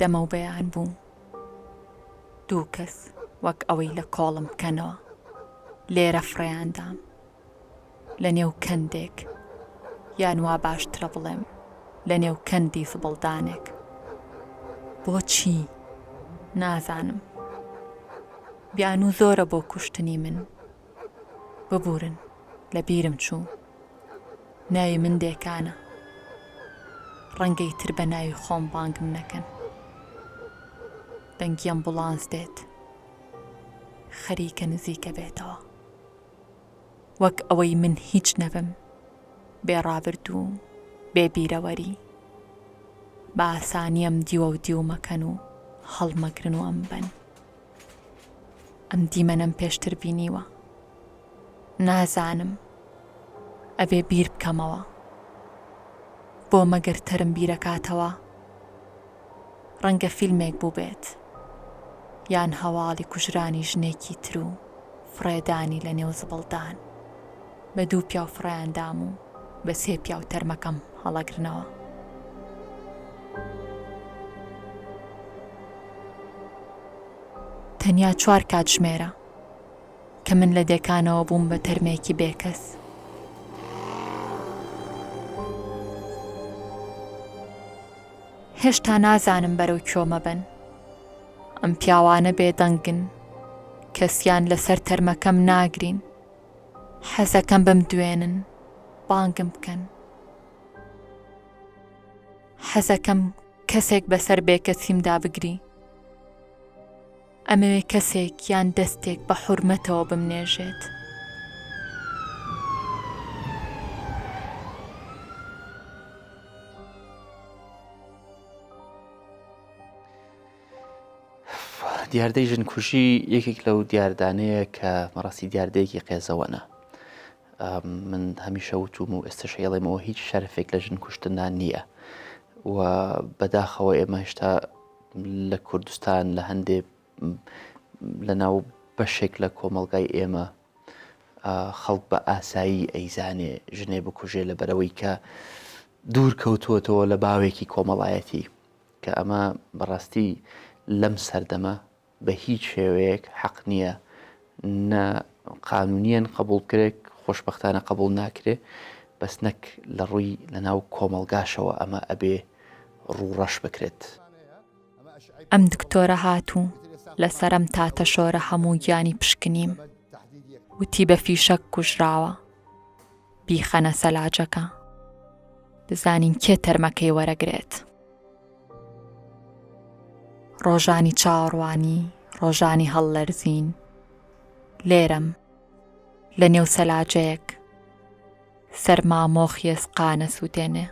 دەمەوبەیان بوو دوو کەس وەک ئەوەی لە کۆڵم بکەنەوە لێرە فڕێیاندام لە نێو کەندێک یان وا باشترە بڵێم لە نێو کەندی فبڵدانێک بۆچی نازانم بیان و زۆرە بۆ کوشتنی من ببورن لە بیرم چوو ناوی من دێکانە ڕەنگە ئیتر بە ناوی خۆم بانگم نەکەن دەنگی ئەمبوڵانس دێت خەریکە نزیکە بێتەوە وەک ئەوەی من هیچ نەبم بێ ڕابردوو بێ بیرەوەری بە ئاسانیم دیوە و دیومەکەن و هەڵمەگرن و ئەم بەن ئەم دیمەنەم پێشتر بینیوە نازانم ئەبێ بیر بکەمەوە بۆ مەگەر تەرم بیرەکاتەوە ڕەنگە فیلمێک بووبێت یان هەواڵی کوژرانی ژنێکی تر و فڕێدانی لە نێو زبڵدان بە دوو پیاو فڕێیاندام و بە سێ پیاو تەرمەکەم هەڵەگرنەوە. تەنیا چوار کاتژمێرە کە من لە دێکانەوە بووم بە تەرمێکی بێکەس. هێشتا نازانم بەرەو کۆمە بن ئەم پیاوانە بێدەنگن کەسیان لەسەر تەرمەکەم ناگرین حەزەکەم بمدوێنن بانگم بکەن. حەزەکەم کەسێک بەسەر بێکەسیمدا بگری. ئەمەوێ کەسێک یان دەستێک بە حورمەتەوە بمنێژێت. دیاردەی ژنکوژی یەکێک لەو دیاردانەیە کە مەڕاستی دیاردەیەکی قێزەوەە من هەمیشە وتوم و ئێستا شێڵێمەوە هیچ شەرفێک لە ژن کوشتندا نییە و بەداخەوە ئێمە هێشتا لە کوردستان لە هەندێ لە ناو بەشێک لە کۆمەلگای ئێمە خەڵک بە ئاسایی ئەیزانێ ژنێ بکوژێ لە بەرەوەی کە دوور کەوتووەتەوە لە باوێکی کۆمەڵایەتی کە ئەمە بەڕاستی لەم سەردەمە بە هیچ شێوەیەک حەق نییە، نە قانونیەن قبوڵ بکرێت، خۆشبەختانە قبوڵ ناکرێ، بەس نەک لە ڕووی لەناو کۆمەڵگاشەوە ئەمە ئەبێ ڕوو ڕەش بکرێت. ئەم دکتۆرە هات و لە سەرم تا تەشۆرە هەموو گیانی پشکنیم، وتی بە فیشەک کوژراوە. بیخەنە سەلاجەکە بزانین کێ تەرمەکەی وەرەگرێت. ڕۆژانی چاوەڕوانی ڕۆژانی هەڵلەرزین لێرەم لە نێو سەلاجەیەک سەرما مۆخیێز قانە سووتێنێ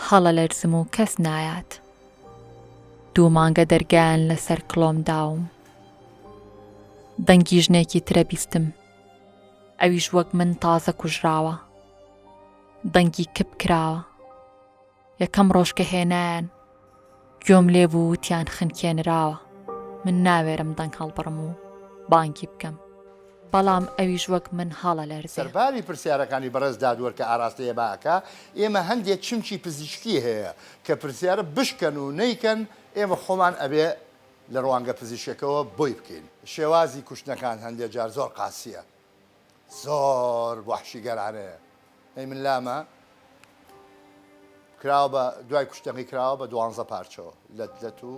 هەڵە لەرزم و کەس نایات دوو مانگە دەرگیان لەسەر کڵۆم داوم دەنگی ژنێکی ترە بیستم ئەویش وەک من تازە کوژراوە دەنگی کپ کراوە یەکەم ڕۆژ کە هێنایان گوێم لێ بوو وتیان خنکێنراوە من ناوێرم دەنگ هەڵبڕم و بانگی بکەم بەڵام ئەویش وەک من هەڵە لەرزێ سەرباری پرسیارەکانی بەڕێز دادوەر کە ئاراستەی ئێمە ئەکا، ئێمە هەندێ چمکی پزیشکی هەیە کە پرسیارە بشکەن و نەیکەن ئێمە خۆمان ئەبێ لە ڕوانگە پزیشکەکەوە بۆی بکەین. شێوازی کوشتنەکان هەندێ جار زۆر قاسییە، زۆر وەحشیگەرانەیە، ئەی من لامە کراوە بە دوای کوشتنەکەی کراوە بە دوانزە پارچەوە لەت لەت و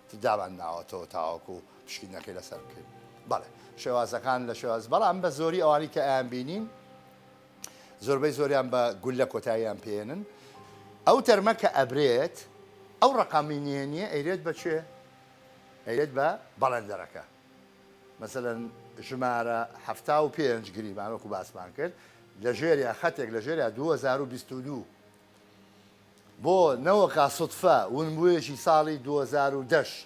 تر دامان ناوەتەوە تاوەکو پشکینەکەی لەسەر بکەین. بەڵێ شێوازەکان لە شێواز بەڵام بە زۆری ئەوانەی کە ئەیانبینین زۆربەی زۆریان بە گوللە کۆتاییان پێێنن ئەو تەرمە کە ئەبرێت ئەو ڕقامی نیە نیە ئەیرێت بە چێ ئەیرێت بە بەڵندەرەکە مەسەن ژمارە ه و پێنج گریمانۆک و باسمان کرد لە ژێریا خەتێک لە ژێریا 2022 بۆ نەوەکە سوتفە ونبوویەکی ساڵی 2010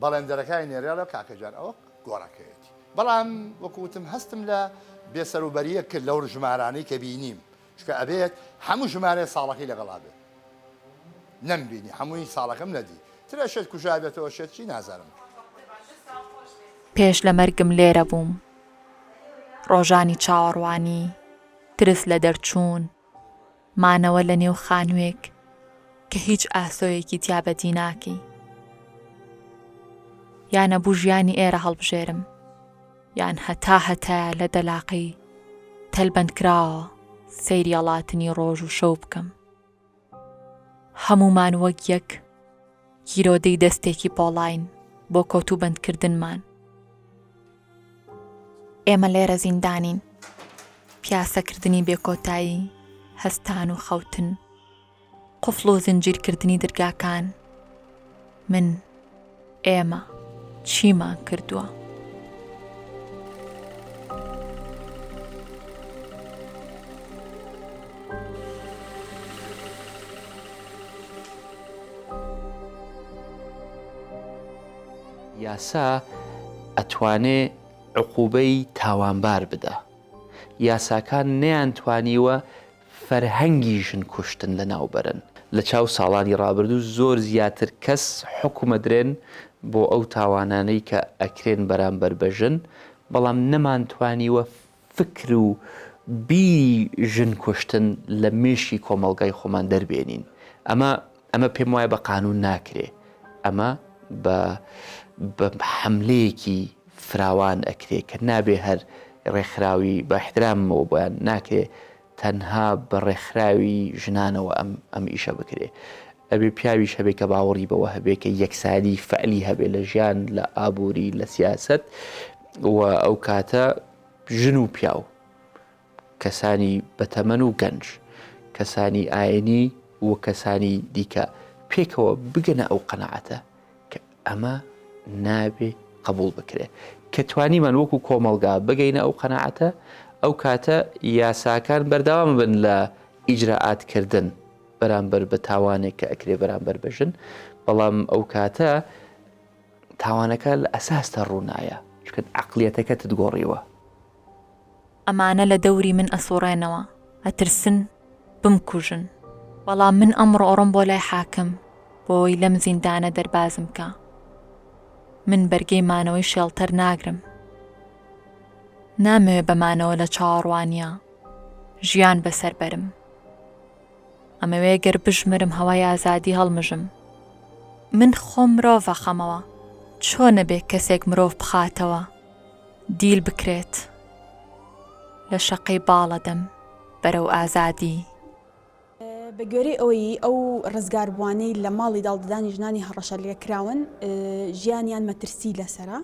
بەڵێندەرەکانی نێرێڵە کاکە جان ئەوە گۆڕەکەیەتی بەڵام وەکو وتم هەستم لە بێ سەروبەریەک کرد لەو ژمارانەی کە بینیم چکە ئەبێت هەموو ژمارەیە ساڵەکەی لەگەڵا بێت نەم بینی هەمووی ساڵەکەم نەدی ترە شێت کوژابێتەوە شێت چی نازانم پێش لە مەرگم لێرە بووم ڕۆژانی چاوەڕوانی ترس لە دەرچوون مانەوە لە نێو خانووێک کە هیچ ئاسۆیەکی تیا بەدی ناکەی. یا نەبوو ژیانی ئێرە هەڵبژێرم، یان هەتا هەتایە لە دەلاقەی تەلبەندکراوە سەیری ئەڵاتنی ڕۆژ و شەو بکەم. هەموومان وەک یەک گیرۆدەی دەستێکی پۆڵاین بۆ کۆتوبەندکردنمان. ئێمە لێرە زیندانین. پیاسەکردنی بێکۆتایی، هەستان و خەوتن، قفڵ و زنجیرکردنی درگاکان. من، ئێمە، چیمان کردووە؟ یاسا ئەتوانێ عقوبەی تاوانبار بدا یاساکان نەیانتوانیوە فەرهەنگی ژن کوشتن لەناوبەرن لەچاو ساڵانی ڕابردو زۆر زیاتر کەس حوکم ئەدرێن بۆ ئەو تاوانانەی کە ئەکرێن بەرامبەر بەژن بەڵام نەمانتوانیوە فکر و بیری ژن کوشتن لە مێشکی کۆمەڵگای خۆمان دەربێنین ئەمە ئەمە پێم وایە بە قانون ناکرێ ئەمە بە بە حملەیەکی فراوان ئەکرێ کە نابێ هەر ڕێکخراوی بە احترامەوە بۆیان ناکرێ تەنها بە ڕێکخراوی ژنانەوە ئەم ئیشە بکرێ ئەبێ پیاویش هەبێ کە باوەڕی بەوە هەبێ کە یەکسانی فەعلی هەبێ لە ژیان لە ئابووری لە سیاسەت و ئەو کاتە ژن و پیاو کەسانی بەتەمەن و گەنج کەسانی ئاینی و کەسانی دیکە پێکەوە بگەنە ئەو قەنەعەتە ئەمە نابێ قبول بکرێت کە توانیمان وەکو کۆمەلگا بگەینە ئەو قەنەعەتە ئەو کاتە یاساکان بەرداوام بن لە ئیجرراعاتکردن بەرامبەر بە تاوانێک کە ئەکرێ بەرامبەر بژن بەڵام ئەو کاتە تاوانەکە لە ئەساستە ڕوونایە چکن عقلیەتەکەتت گۆڕیوە ئەمانە لە دەوری من ئەسوڕێنەوە ئەترسن بمکوژن. بەڵام من ئەمڕۆ ئەڕۆم بۆ لای حاکم بۆوەی لەم زیندانە دەربازم کا. من بەرگەی مانەوەی شێڵتەر ناگرم. نامەوێ بە مانەوە لە چاوەڕوانییا ژیان بە سەر بەرم. ئەمەوێ گەر بژمرم هەوای ئازادی هەڵمژم. من خۆم مرۆڤ ئەخەمەوە. چۆنە بێ کەسێک مرۆڤ بخاتەوە؟ دیل بکرێت لە شەقەی باڵەدەم بەرەو ئازادی. بەگوێرەی ئەوەی ئەو ڕزگاربووانەی لە ماڵی داڵدەدانی ژنانی هەڕەشە لێکراون ژیانیان مەترسی لەسرە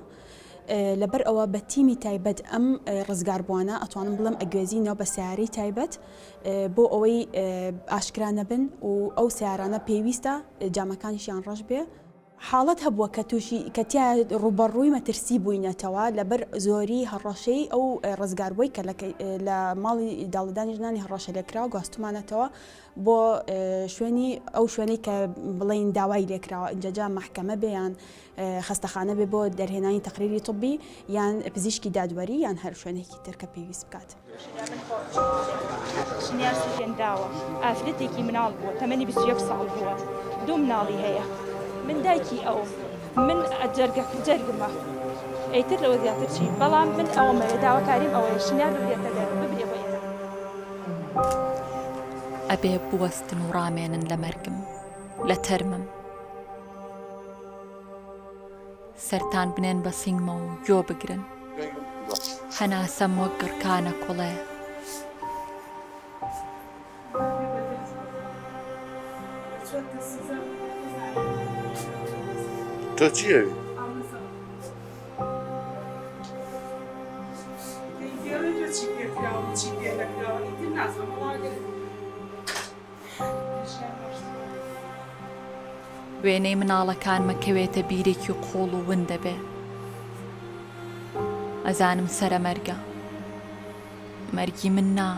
لەبەر ئەوە بە تیمی تایبەت ئەم ڕزگاربووانە ئەتوانم بڵم ئەگوێزینەوە بە سیارەی تایبەت بۆ ئەوەی ئاشکرانە بن و ئەو سیارانە پێویستە جامەکانشیان ڕەش بێ حاڵەت هەبووە کە تووشی کە تیایا ڕووبەڕووی مەترسی بووینەتەوە لەبەر زۆری هەڕەشەی ئەو ڕزگاربووەی کە لە لە ماڵی داڵدانی ژنانی هەڕەشەلێکراو گواستومانەتەوە بۆ شوێنی ئەو شوێنەی کە بڵێین داوای لێکراوە ئینجا جا مەحکەمە بێ یان خەستەخانە بێ بۆ دەرهێنانی تەقریری طبی یان پزیشکی دادوەری یان هەر شوێنێکی تر کە پێویست بکات. ژنیار سوفیان داوە ئافرەتێکی مناڵ بووە تەمەنی بیست و یەک ساڵ بووە دوو مناڵی هەیە من دایکی ئەوم من ئەجەرگە جەرگمە ئەیتر لەوە زیاتر چی بەڵام من ئەومە داواکاریم ئەوەیە ژنیار ببرێتە دەر ببرێ بۆ ئێران ئەبێ بوەستن و ڕامێنن لە مەرگم لە تەرمم. سەرتان بنێن بە سنگمە و گۆ بگرن هەناسەم وەک گڕکانە کوڵێ. تۆ چی ئەوی؟ وێنەی مناڵەکانمە کەوێتە بیرێکی قوڵ و ون دەبێ ئەزانم سەرە مەرگە مەرگی من نا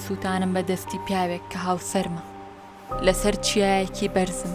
سوتانم بە دەستی پیاوێک کە هاوسەرمە لەسەر چیایەکی بەرزم.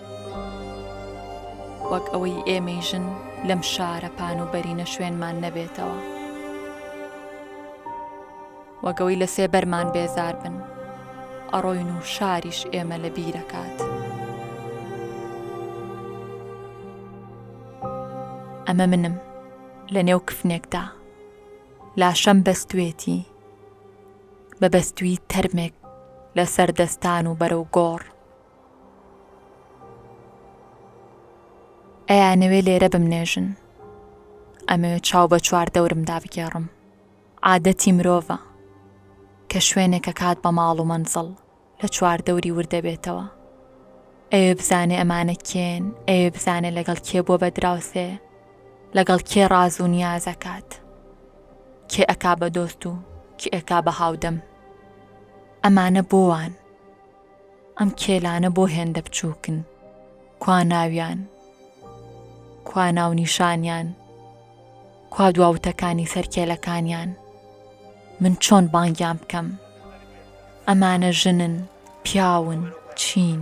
وەک ئەوەی ئێمەی ژن لەم شارە پان و بەرینە شوێنمان نەبێتەوە. وەک ئەوەی لە سێبەرمان بێزار بن. ئەڕۆین و شاریش ئێمە لە بیرەکات. ئەمە منم لە نێو کفنێکدا لاشەم بەستوێتی بە بەستوی تەرمێک لە سەردەستان و بەرەو گۆڕ ئەیانەوێ لێرە بمنێژن ئەمەوێ چاو بە چوار دەورم دابگێڕم عادەتی مرۆڤە کە شوێنێکە کات بە ماڵ و مەنزڵ لە چوار دەوری وردەبێتەوە ئەوێ بزانێ ئەمانە کێن ئەوێ بزانێ لەگەڵ کێ بۆ بە دراوسێ لەگەڵ کێ ڕاز و نیازەکات کێ ئەکا بە دۆست و کێ ئەکا بە هاودەم ئەمانە بۆوان ئەم کێلانە بۆ هێندە بچووکن؟ کوا ناویان؟ کوا ناونیشانیان؟ کوا دواوتەکانی سەر کێلەکانیان؟ من چۆن بانگیان بکەم؟ ئەمانە ژنن، پیاون، چین؟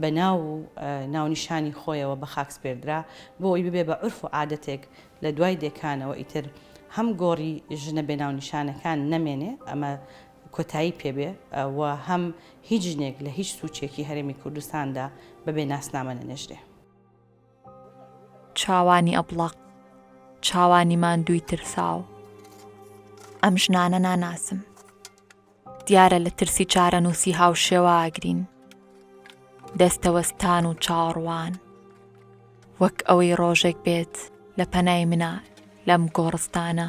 بە ناو و ناونیشانی خۆیەوە بە خاک سپێردرا، بۆ ئەوەی ببێ بە عورف و عادەتێک لە دوای دێکانەوە ئیتر هەم گۆڕی ژنە بێ ناونیشانەکان نەمێنێ ئەمە کۆتایی پێ بێ و هەم هیچ ژنێک لە هیچ سوچێکی هەرێمی کوردستاندا بە بێ ناسنامە نەنێژرێ. چاوانی ئەبڵەق چاوانی ماندووی ترساو ئەم ژنانە ناناسم دیارە لە ترسی چارەنووسی هاوشێواگرین دەستەوەستان و چاڕوان وەک ئەوەی ڕۆژێک بێت لە پەنای منە لەم گۆڕستانە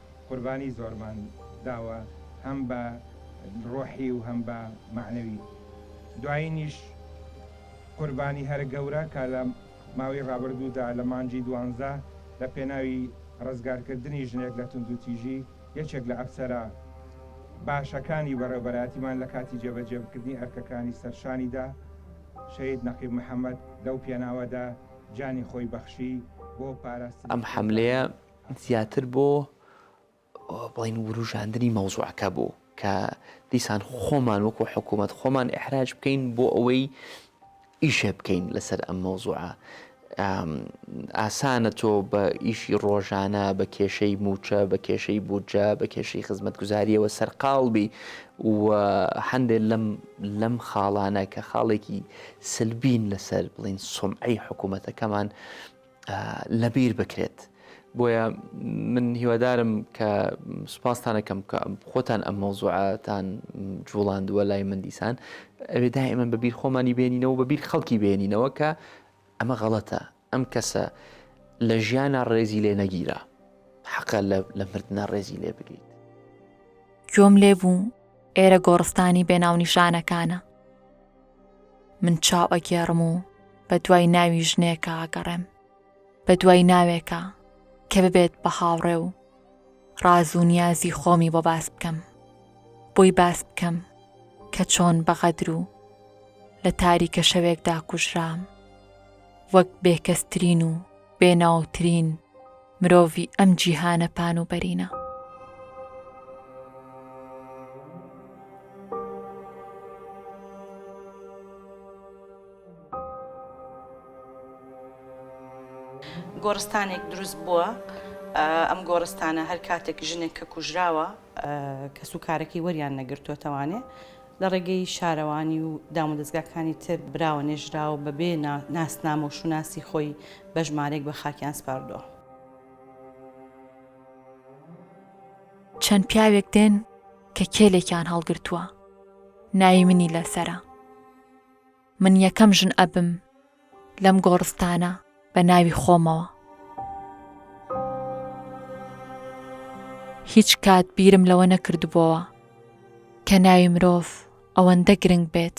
قوربانی زۆرمان داوە هەم بە ڕۆحی و هەم بە مەعنەوی دوایینیش قوربانی هەرە گەورە کە لە ماوەی ڕابردوودا لە مانگی دوانزە لە پێناوی ڕزگارکردنی ژنێک لە توندوتیژی یەکێک لە ئەفسەرە باشەکانی بەڕێوبەرایەتیمان لە کاتی جێبەجێکردنی ئەرکەکانی سەر شانیدا شەهید نەقیب محەمەد لەو پێناوەدا گیانی خۆی بەخشی بۆ پاراستنی ئەم حەملەیە زیاتر بۆ بڵێن وروژاندنی مەوزوعەکە بوو کە دیسان خۆمان وەکو حکوومەت خۆمان ئحراج بکەین بۆ ئەوەی ئیشێ بکەین لەسەر ئەم مەوزوعە ئاسانە تۆ بە ئیشی ڕۆژانە بە کێشەی موچە بە کێشەی بودجە بە کێشەی خزمەت گوزاریەوە سەرقاڵبی و هەندێک لەم لەم خاڵانە کە خاڵێکی سلبین لەسەر بڵین سمعی حکوومەتەکەمان لەبیر بکرێت. بۆیە من هیوادارم کە سوپاستان ئەکەم کە خۆتان ئەم مەوزوعەتان جوڵاندووە لای من دیسان ئەوێ دائیمەن بە بیر خۆمانی بێنینەوە بە بیر خەڵکی بێنینەوە کە ئەمە غەڵەتە ئەم کەسە لە ژیانە ڕێزی لێ نەگیرا حەقە لە مردە ڕێزی لێ بگریت گوێم لێ بوو ئێرە گۆڕستانی بێناونیشانەکانە من چاو ئەگێڕم و بە دوای ناوی ژنێکە ئاگەڕێم بە دوای ناوێکە کە ببێت بە هاوڕێ و ڕاز و نیازی خۆمی بۆ باس بکەم بۆی باس بکەم کە چۆن بەغەدر و لە تاریکە شەوێکدا کوژرام وەک بێکەسترین و بێناوترین مرۆڤی ئەم جیهانە پان و بەرینە. گۆڕستانێک دروست بووە ئەم گۆڕستانە هەر کاتێک ژنێک کە کوژراوە کەس و کارەکەی وەریان نەگرتووەتەوانێ لە ڕێگەی شارەوانی و دامودەزگاکانی تر براوە نێژراو بەبێ ناسنامە و شوناسی خۆی بە ژمارەیەک بە خاکیان سپاردووە. چەند پیاوێک دێن کە کێلێکیان هەڵگرتووە ناوی منی لەسەرە. من یەکەم ژن ئەبم لەم گۆڕستانە بە ناوی خۆمەوە. هیچ کات بیرم لەوە نەکردبووەوە کە ناوی مرۆڤ ئەوەندە گرنگ بێت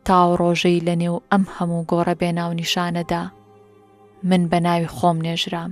تاو ڕۆژەی لە نێو ئەم هەموو گۆڕە بێناونیشانەدا من بە ناوی خۆم نێژرام.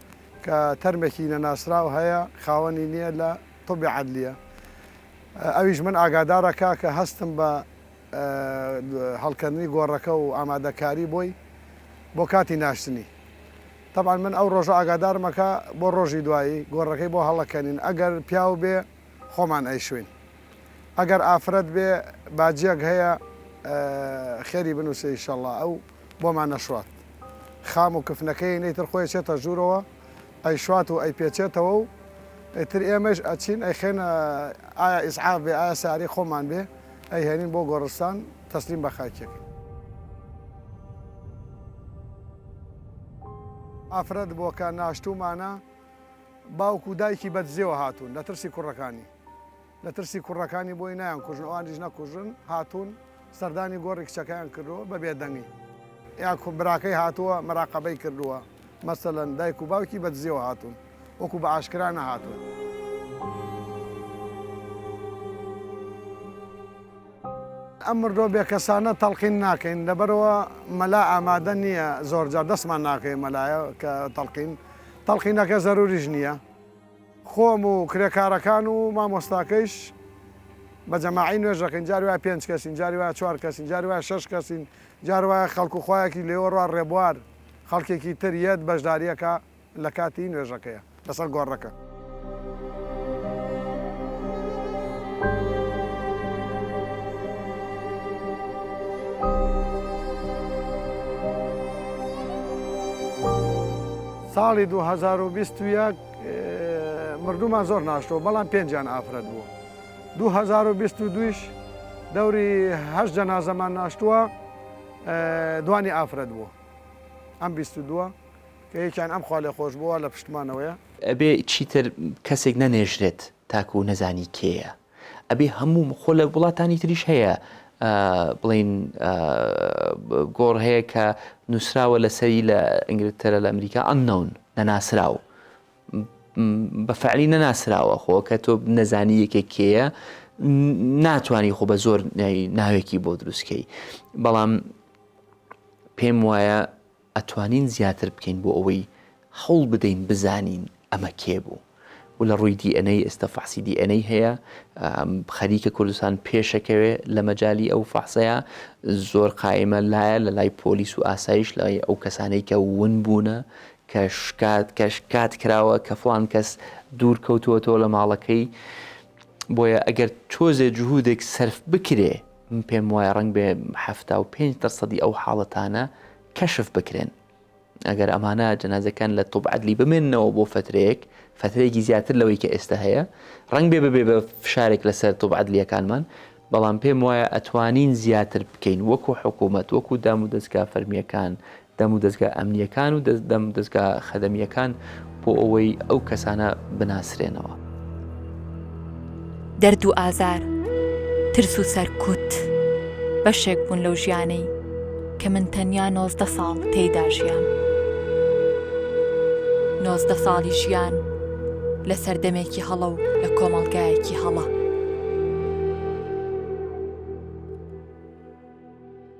کە تەرمێکی نەناسراو هەیە خاوەنی نیە لە طب عدلیە ئەویش من ئاگادارە کاکە هەستم بە هەڵکەندنی گۆڕەکە و ئامادەکاری بۆی بۆ کاتی ناشتنی طبعا من ئەو ڕۆژە ئاگادارمە کە بۆ ڕۆژی دوایی گۆڕەکەی بۆ هەڵەکەنین ئەگەر پیاو بێ خۆمان ئەیشوین ئەگەر ئافرەت بێ باجیەک هەیە خێری بنوسێ ئیشەڵا ئەو بۆمان نەشوات خام و کفنەکەی نەیتر خۆی ئەچێتە ژوورەوە ئەیشوات و ئەیپێچێتەوە و ئیتر ئێمەش ئەچین ئەیخەینە ئایا ئیسعاف بێ ئایا سارەی خۆمان بێ ئەیهێنین بۆ گۆڕستان تەسلیم بە خاکی ئەکەین. ئافرەت بۆکە ناشتوومانە، باوک و دایکی بەدزییەوە هاتوون لە ترسی کوڕەکانی. لە ترسی کوڕەکانی بۆی نایانکوژن ئەوانیش نەکوژن هاتوون سەردانی گۆڕی کچەکەیان کردووە بە بێدەنگی. یاخود براکەی هاتووە مراقەبەی کردووە، مەسەلەن دایک و باوکی بە دزییەوە هاتوون وەکو بە ئاشکرا نەهاتوون. ئەم مردووە بێکەسانە تەڵقین ناکەین لەبەرئەوە مەلا ئامادە نییە زۆرجار دەستمان ناکەوێت مەلایە کە تەڵقین تەڵقینەکە زەروریش نییە. خۆم و کرێکارەکان و مامۆستاکەیش بە جەماعی نوێژ دەکەین، جاری وایە پێنج کەسین، جاری وایە چوار کەسین، جاری وایە شەش کەسین، جار وایە خەڵک و خوایەکی لێوەڕوا ڕێبوار خەڵکێکی تر یەت بەشدارییەکە لە کاتی نوێژەکەیە لەسەر گۆڕەکە. ساڵی دوو هەزار و بیست و یەک مردوومان زۆر ناشتەوە بەڵام پێنجیان ئافرەت بوو دوو هەزار و بیست و دوویش دەوری هەشت جەنازەمان ناشتووە دوانی ئافرەت بوو ئەم بیست و دووە کە یەکیان ئەم خوا لێ خۆش بووە لە پشتمانەوەیە ئەبێ چیتر کەسێک نەنێژرێت تاکو نەزانی کێیە. ئەبێ هەموو خۆ لە وڵاتانی تریش هەیە بڵین گۆڕ هەیە کە نووسراوە لەسەری لە ئینگلتەرە لە ئەمریکا ئەننەون نەناسراو بە فعلی نەناسراوە خۆ کە تۆ نەزانی یەکێک کێیە ناتوانانی خۆ بە زۆر ناوێکی بۆ دروستکەی بەڵام پێم وایە ئەتوانین زیاتر بکەین بۆ ئەوەی هەوڵ بدەین بزانین ئەمە کێ بوو و لە ڕووی دی ئێن ئەی ئێستا فەحسی دی ئێن ئەی هەیە خەریکە کوردستان پێشەکەوێ لە مەجای ئەو فەحسەیە زۆر قایمە لایە لە لای پۆلیس و ئاسایش لای ئەو کەسانەی کە ون بوونە کە شکات کە شکات کراوە کە فلان کەس دوور کەوتووەتەوە لە ماڵەکەی بۆیە ئەگەر تۆزێ جهودێک سرف بکرێ من پێم وایە ڕەنگ بێ حەفتا و پێنج دەرسەدی ئەو حاڵەتانە کەشف بکرێن ئەگەر ئەمانە جەنازەکان لە تۆب عدلی بمێنەوە بۆ فترەیەک فترەیەکی زیاتر لەوەی کە ئێستا هەیە ڕنگ بێ ببێ بە فشارێک لەسەر تۆب عدلیەکانمان بەڵام پێم وایە ئەتوانین زیاتر بکەین وەکو حکوومەت وەکو دام و دەستگا فەرمیەکان دەمودەزگا ئەمنییەکان و دەمودەزگا خەدەمییەکان بۆ ئەوەی ئەو کەسانە بناسرێنەوە. دەرد و ئازار، ترس و سەرکوت بەشێک بوون لەو ژیانەی کە من تەنیا نۆزدە ساڵ تێیدا ژیام. نۆزدە ساڵی ژیان لە سەردەمێکی هەڵە و لە کۆمەڵگایەکی هەڵە.